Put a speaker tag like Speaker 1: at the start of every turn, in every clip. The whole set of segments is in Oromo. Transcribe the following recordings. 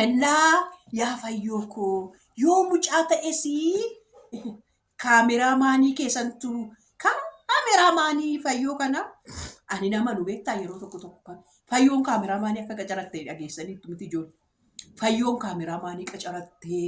Speaker 1: Innaa yaa fayyoo koo yoo mucaa ta'es kaameraa maanii keessantu kaameraa maanii fayyoo kana ani nama nu beektaa yeroo tokko tokko kan fayyoon kaameraa maanii akka qacaratte dhageessaniittu miti ijoollee. Fayyoon kaameraa maanii qacarattee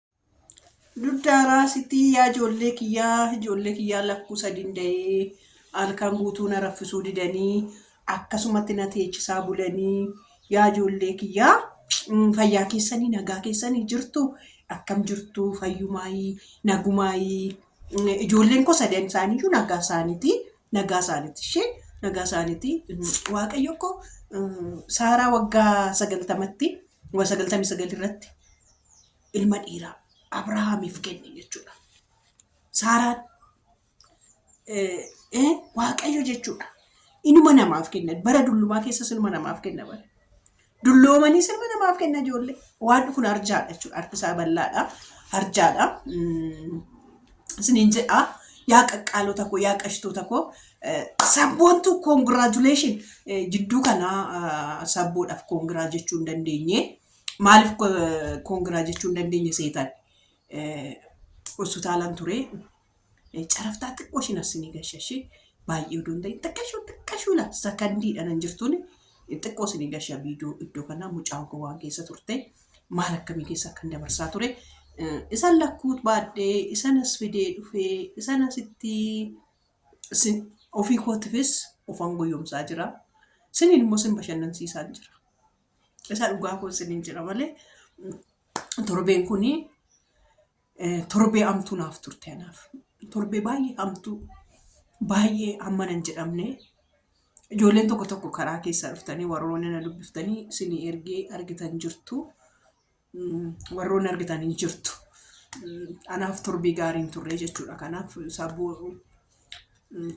Speaker 1: Duddaaraa sitti yaa ijoollee kiyyaa ijoollee kiyyaa lakkuu sadiin da'ee halkan guutuu na raffisuu didanii akkasumatti na teechisaa bulanii yaa ijoollee kiyyaa mm, fayyaa keessanii nagaa keessanii jirtu akkam jirtu fayyumaayii nagumaayii Mm, ijoolleen koo sadan isaaniiyyuu nagaa isaaniiti nagaa isaaniiti ishee nagaa isaaniiti Mm, waaqayyo koo mm, saaraa waggaa sagaltamatti waggaa sagaltamii sagal irratti ilma dhiiraa Abrahaamiif kenne jechuudha. Saaraan waaqayyo jechuudha. Inuma namaaf kenna. Bara dullumaa keessas inuma namaaf kenna bara. Dulloomanii sirba namaaf kenna ijoollee. Waan kun arjaadha jechuudha. Harki isaa bal'aadha. Arjaadha. Isiniin jedha. Yaa qaqqaalota koo, yaa qashtoota koo. Sabboontu congratulation jidduu kanaa sabboodhaaf kongiraa jechuu hin dandeenye. Maaliif koongiraa jechuu hin dandeenye seetan? Hospitaalaan ture. Caraftaa xiqqoo ishiin assinii gashashii baay'ee odoo hin ta'in xiqqashuu xiqqashuu la sakandiidha nan jirtuun xiqqoo isinii gasha viidiyoo iddoo kanaa mucaan koo waan keessa turte maal akkamii keessa akkan dabarsaa ture. Isan lakkuu baadhee isan as fidee dhufee isan asitti sin- ofii kootifis ofan goyyomsaa jira. Siniin immoo sin bashannansiisaan jira. Isa dhugaa koo isiniin jira malee torbeen kun torbee hamtuu naaf turte anaaf. Torbee baay'ee hamtuu baay'ee hamma nan jedhamne ijoolleen tokko tokko karaa keessaa dhuftanii warroonni na dubbiftanii isinii ergee argitan jirtu. warroonni argitan hin jirtu. Anaaf turbii gaarii hin turre jechuudha. Kanaaf sabboo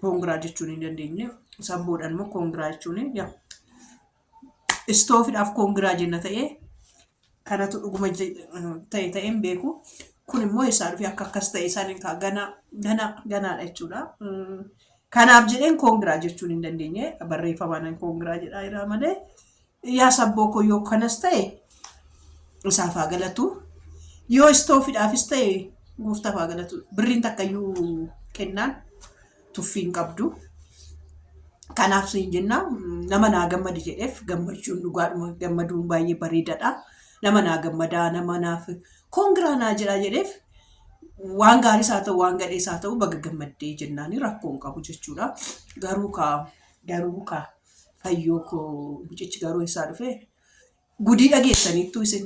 Speaker 1: koongiraa jechuun hin dandeenye. Sabboodhaan immoo koongiraa jechuun yaa istoofidhaaf koongiraa jenna ta'ee kanatu dhuguma je- ta'e ta'e hin beeku. Kun immoo eessaa dhufee akka akkas ta'e isaan egaa ganaa ganaa ganaadha jechuudha. Mm, Kanaaf jedheen koongiraa jechuun hin dandeenye barreeffamaan koongiraa jedhaa jira malee Yaa sabboo koo yoo kanas ta'e isaaf haa galatu. Yoo istoofidhaafis ta'e gooftaaf haa galatu. Birriin takkayyuu kennaan tuffii hin qabdu. Kanaaf siin jenna nama naa gammadi jedheef gammachuun dhugaadhuma gammaduun baay'ee bareedadha. Nama naa gammadaa nama naaf kongiraa naa jedhaa jedheef waan gaariis haa ta'u waan gadhees haa ta'u baga gammaddee jennaani rakkoo hin qabu jechuudha. Garuu kaa garuu kaa Fayyoo koo mucichi garuu eessaa dhufee? Gudii dhageessaniittuu isin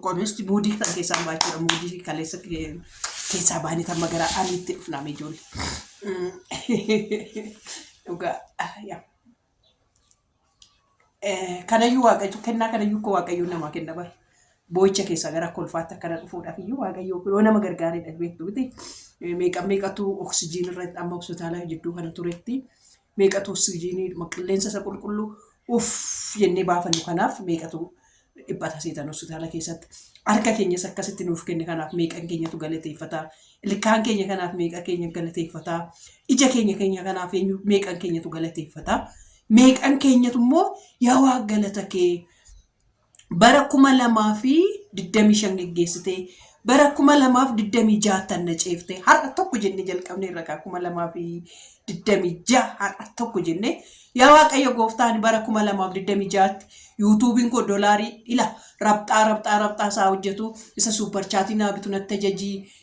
Speaker 1: qomeesti muudii kan keessaa baachuudha muudii kaleessa keessaa baanii kan magaraa aliitti dhufnaame ijoollee. Dhugaa yaa. Kanayyuu waaqayyo kennaa kanayyuu koo waaqayyo namaa kenna bara. Boo'icha keessaa gara kolfaatti akkana dhufuudhaaf iyyuu waaqayyo yoo nama gargaareedha beektu miti. Meeqa meeqatu oksijiin irratti amma hospitaala jidduu kana turetti. meeqatu oksijiinii dhuma qilleensa isa qulqulluu uff jennee baafannu kanaaf meeqatu dhiphata seetan hospitaala keessatti harka keenyas akkasitti nuuf kenne kanaaf meeqan keenyatu galateeffata ilkaan keenya kanaaf meeqa keenya galateeffata ija keenya keenya kanaaf eenyu meeqan keenyatu galateeffata meeqan keenyatu immoo yaa waa galata kee bara 2025 geggeessitee bara 2026 tanna ceeftee har'a tokko jennee jalqabne irra kaa 2026 har'a tokko jennee yaa waaqayyo gooftaan bara 2026tti yuutuubiin koo dolaarii ila rabxaa rabxaa rabxaa isaa hojjetu isa suuparchaatii naa bitu natti ajajii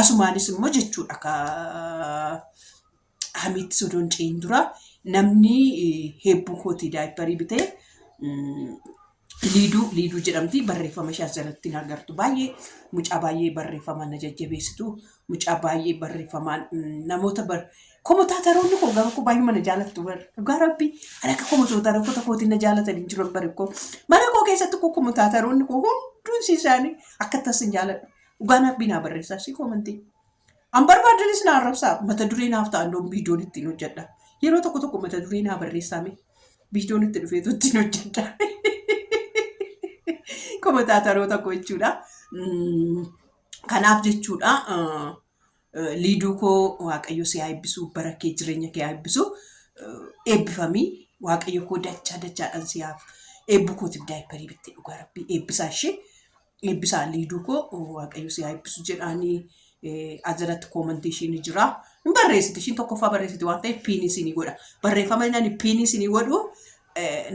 Speaker 1: Asumaanis immoo jechuudha ka hamiitti sodoon ce'in dura namni heebbuu kootii daayipparii bitee liiduu liiduu jedhamti barreeffama ishee as jalatti hin agartu baay'ee mucaa baay'ee barreeffamaan na jajjabeessitu mucaa baay'ee barreeffamaan namoota bar komotaataroonni koo garuu koo baay'ee mana jaalattu bar dhugaa rabbi kan akka komotaataroota kootiin na jaalatan hin jiran bari koo mana koo keessatti koo komotaataroonni koo hunduun isaanii akka tasin jaaladhu Dhugaa naaf binaa barreessaa ishii koomantii. An barbaadanis na arrabsaa mata duree naaf ta'an doon viidiyoon ittiin hojjedha. Yeroo tokko tokko mata duree naa barreessaa mee viidiyoon itti dhufeetu ittiin hojjedha. Komataataroota koo jechuudha. Mm, Kanaaf jechuudha ah, eh, liiduu koo waaqayyo si haa eebbisu bara kee jireenya kee haa eebbisu Eh, eebbifamii waaqayyo koo dachaa dachaadhaan si haa eebbu kootiif daayipparii bittee dhugaa rabbii eebbisaa ishee eebbisaa liiduu koo waaqayyo si haa eebbisu jedhaanii ajalatti koomantii ishiin jira. Hin barreessiti ishiin tokkoffaa barreessiti waan ta'eef piinii isinii godha. Barreeffama inni piinii isinii godhu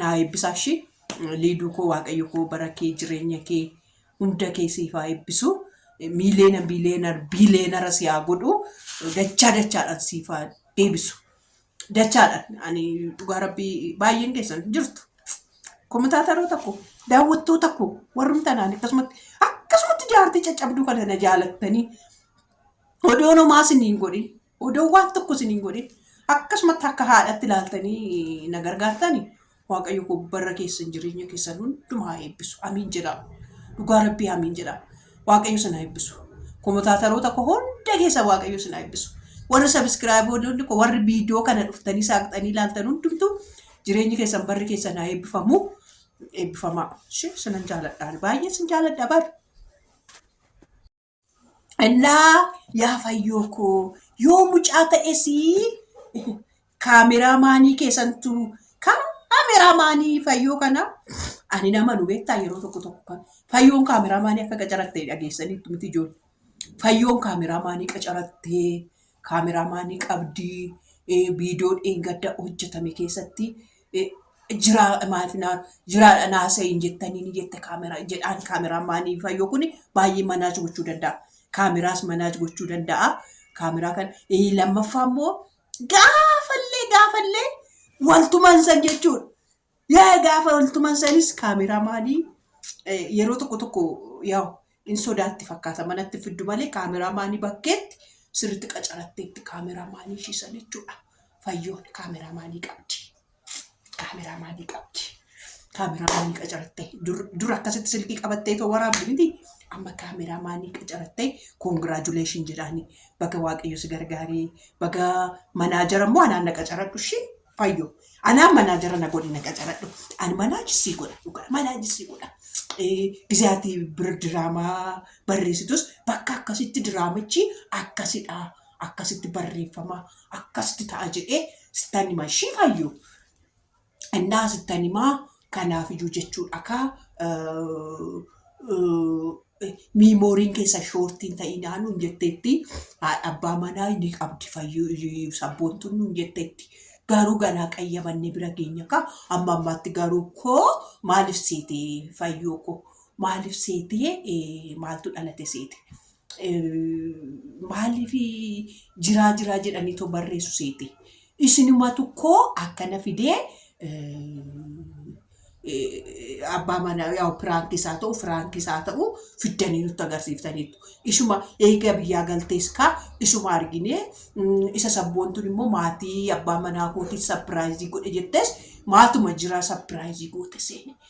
Speaker 1: naa eebbisaa ishii liiduu koo waaqayyo koo bara kee jireenya kee hunda kee siif haa eebbisu. Miiliyoona biiliyoona biiliyoonara si haa godhu dachaa dachaadhaan siif haa deebisu. dachaadha ani dhugaa rabbii baay'een keessan jirtu komitaataroota koo daawwattoota koo warrum tanaan akkasumatti akkasumatti jaartii caccabduu kana na jaalattanii odoo nomaa siniin godhin odoo waan tokko siniin godhin akkasumatti akka haadhatti ilaaltanii na gargaartanii Waaqayyo koo barra keessan jireenya keessan hunduma haa eebbisu. Amiin jedhaa. Dhugaa rabbii amiin jedhaa. Waaqayyo sana eebbisu. Komotaataroota koo hunda keessa waaqayyo sana eebbisu. Warri sabiskiraayiboonni koo warri viidiyoo kana dhuftanii saaqxanii ilaaltan hundumtu jireenyi keessan barri keessan haa eebbifamu. Eebbifamaa. Ishee sinan jaaladhaan. Baay'ee sin jaaladha bar. Innaa yaa fayyoo koo yoo mucaa ta'es kaameraa maanii keessantu kaameraa maanii fayyoo kana ani nama nu beektaa yeroo tokko tokko kan fayyoon kaameraa maanii akka qacaratte dhageessaniittu miti ijoollee fayyoon kaameraa maanii qacarattee Kaameraamaanii qabdi. Viidiyoo dheengadda hojjetame keessatti jiraa maaf naa jiraadha naa sayin jettanii ni jette kaamera jedhaan kaameraamaanii fayyoo kun baay'ee manaaj gochuu danda'a. Kaameraas manaaj gochuu danda'a. Kaameraa kan lammaffaa immoo gaafallee gaafallee waltuman san jechuudha. Yaa gaafa oltuman sanis kaameraa maalii yeroo tokko tokko yaa'u in sodaatti fakkaata manatti fiddu malee kaameraa maanii bakkeetti sirriitti qacaratteetti kaameraa maanii ishii sana jechuudha. Fayyoon kaameraa maanii qabdi. Kaameraa maanii qabdi. Kaameraa maanii qacarattee dur dur akkasitti silkii qabattee too waraabdi miti. Amma kaameraa maanii qacarattee koongiraajuleeshin jedhaani baga waaqayyo si gargaaree baga manaajara immoo anaan na qacaradhu ishii Fayyo. Anaa manaa jara na godhi na qacaradhu. An manaa jisii godha dhugaa manaa jisii godha. Gizee ati bir diraamaa barreessitus bakka akkasitti diraamichi akkasidha. Akkasitti barreeffama akkasitti ta'a jedhee sittan hima ishii fayyo. Innaa sittan himaa Kanaafiyyuu jechuudha kaa miimooriin keessan shoortii hin ta'inaa nuun jetteetti. Haadha abbaa manaa ni qabdi fayyuu sabboontuun nuun jetteetti. Garuu ganaa qayyabannee bira geenya kaa amma ammaatti garuu koo maaliif seetee fayyoo koo maaliif seetee eh, maaltu dhalate seete. maaliif jiraa jiraa jedhanii too barreessu seete. Isinumatu koo akkana fidee abbaa manaa yaa'u piraanki isaa ta'u firaanki isaa ta'u fiddanii nutti agarsiiftaniitu. Isuma eega biyyaa galtees kaa isuma arginee isa sabboontuun immoo maatii abbaa manaa kootiif sapiraayizii godhe jettes maatuma jira sapiraayizii goote seene.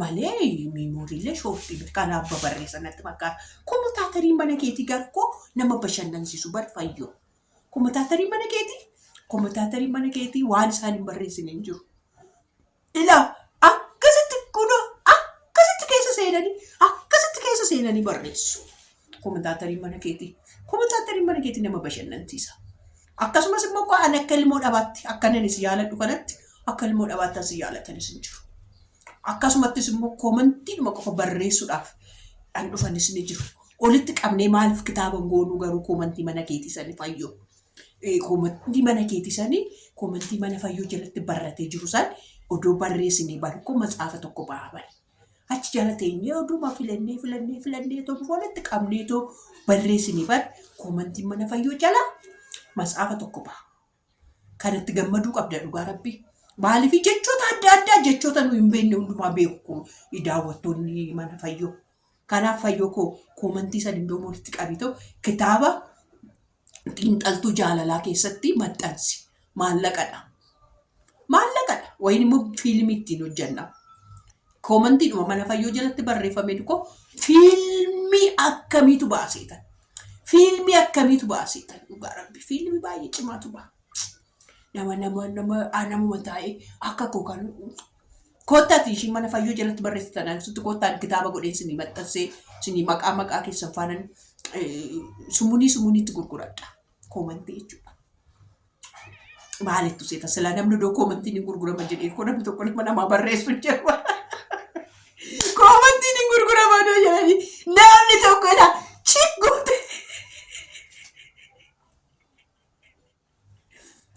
Speaker 1: malee miimooriillee shooftii miti kan abba barreessa natti fakkaata. Komutaatarii mana keetii garkoo nama bashannansiisu bar fayyoo. Komutaatarii mana keetii komutaatarii mana keetii waan isaan hin barreessine hin jiru. Ilaa akkasitti kunoo akkasitti keessa seenanii akkasitti keessa seenanii barreessu. Komentaatarii mana keetii. Komentaatarii mana keetii nama bashannansiisa. Akkasumas immoo koo ani akka ilmoo dhabaatti akkanan isin yaaladhu kanatti akka ilmoo dhabaattan isin yaalatan isin jiru. Akkasumattis immoo komantiidhuma qofa barreessuudhaaf dhan dhufanis ni jiru. Olitti qabnee maaliif kitaaba hin goonuu garuu komantii mana keetii sanii fayyoo. Eh, Komantii mana keetii sanii komantii mana fayyoo jalatti barratee jiru san odoo barreessinee baru koo matsaafa tokko bahaa bari. Achi jala teenyee oduma filannee filannee filannee too bifa walitti qabnee too barreessine bar koomantiin mana fayyoo jala matsaafa tokko baha. Kanatti gammaduu qabda dhugaa rabbi. Maaliif jechoota adda addaa jechoota nu hin beekne hundumaa beeku daawwattoonni mana fayyoo. Kanaaf fayyoo koo koomantii san iddoo walitti qabitoo kitaaba xiinxaltuu jaalalaa keessatti maxxansi. Maallaqadha. Maallaqadha. Wayin immoo fiilmii ittiin hojjenna. Koomantiidhuma mana fayyoo jalatti barreeffame tokko fiilmii akkamiitu baaseetan. Fiilmii akkamiitu baaseetan. Dhugaa rabbi fiilmii baay'ee cimaatu ba'a. Nama nama nama ah, namuma taa'ee akka koo kan koottaati ishii mana fayyoo jalatti barreessitan ansutti koottaan kitaaba godheen sinii maxxansee sinii maqaa maqaa keessan faanan eh, sumunii sumuniitti gurguradha koomantii jechuudha. Maalittu seeta silaa namni iddoo koomantiin hin gurgurama jedhee koo namni tokko nama namaa barreessu hin jiru. Koomantiin hin gurgurama iddoo jedhanii namni tokko jedha chik goote.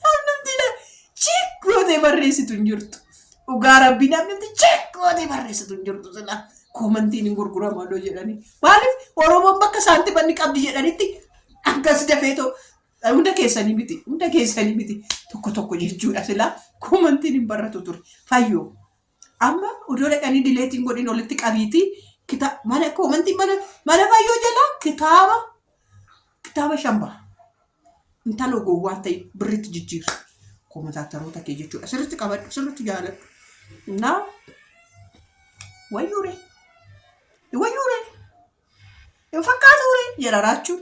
Speaker 1: Namnumtiidha cheek gootee barreessitu hin jirtu. Dhugaa rabbii namnumti cheek gootee barreessitu hin jirtu silaa. Koomantiin hin gurgurama odoo jedhanii. Maaliif Oromoon bakka saantimanni qabdi jedhanitti akkas dafeetoo hunda keessanii miti hunda keessanii miti tokko tokko jechuudha silaa koomantiin hin barratu ture fayyoo. Amma udoo dhaqanii dileetiin godhin olitti qabiitii kita mana koomantii mana mana fayyoo jalaa kitaaba kitaaba shan baha. Intalo gowwaa ta'e birritti jijjiirra. Koomataataroota kee jechuudha. Sirritti qabadhu sirritti jaaladhu. Naa wayyuure wayyuure hin fakkaatuure jedha raachuun.